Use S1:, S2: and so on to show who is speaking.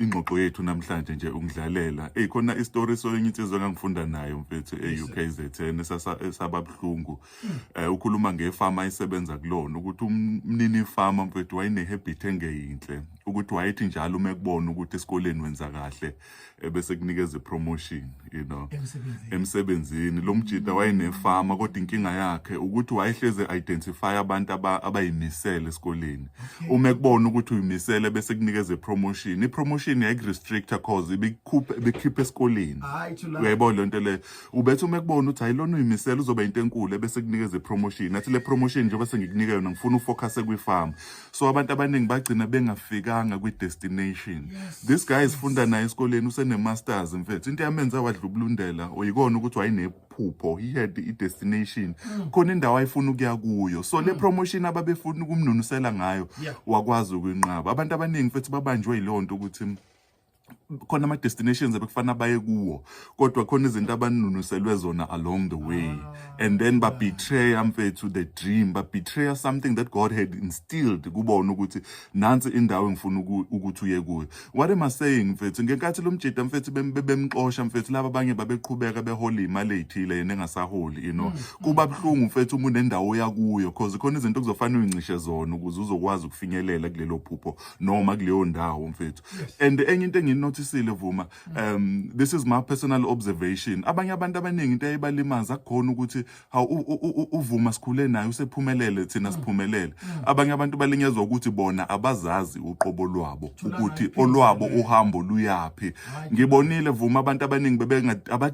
S1: ingxoxo yethu namhlanje nje ungidlalela eyi khona isitori soyenye insizwa engangifunda nayo mfethu e-ukzn esababuhlungu um eh, ukhuluma ngefama ayisebenza kulona ukuthi umnini ifama mfethu wayene-habit engeyinhle ukuthi wayethi njalo uma ekubona ukuthi esikoleni wenza kahle ebese eh, kunikeza ipromotion you know emsebenzini lo mjita mm. wayenefama kodwa inkinga yakhe ukuthi wayehleze identify abantu abayimisele esikoleni uma ekubona ukuthi uyimisele bese kunikeza promotion i promotion yayik restrictor cause ibikhupha ibikhipha esikoleni uyayibona lento le ubethi uma ekubona ukuthi ayilona uyimisele uzoba into enkulu bese kunikeza promotion athi le promotion njengoba sengikunika yona ngifuna ufocus kwi farm so abantu abaningi bagcina bengafikanga kwi-destination yes. this guy isifunda naye esikoleni usene-masters mfethu into yamenza wadlubulundela oyikona ukuthi wayenephupho he had i-destination mm. khona indawo ayifuna ukuya kuyo so mm. le promotion ababefuna ukumnunusela ngayo yeah. wakwazi ukuyinqaba abantu abaningi mfethu babanjwe yileyo nto ukuthi khona ama-destinations abekufanele baye kuwo kodwa khona izinto abanunuselwe zona along the way ah. and then babetreya mfethu the dream babetreya something that god had instilled kubona ukuthi nansi indawo engifuna ukuthi uye kuyo what am i saying mfethu ngenkathi lo mjida mfethu bemxosha mfethu laba abanye babeqhubeka behola imali eyithile yena engasaholi you know mm, mm. kuba buhlungu mfethu uma unendawo yakuyo cause khona izinto kuzofanele uyincishe zona ukuze uzokwazi ukufinyelela kulelo phupho noma kuleyo ndawo mfethu and enye into enginothisile vuma um this is my personal observation abanye abantu abaningi into eyibalimaza kukhona ukuthi haw uvuma sikhule naye usephumelele thina mm. siphumelele mm. abanye abantu balinyezwa ukuthi bona abazazi uqobo lwabo ukuthi olwabo uhambo luyapi ngibonile vuma abantu abaningi bebe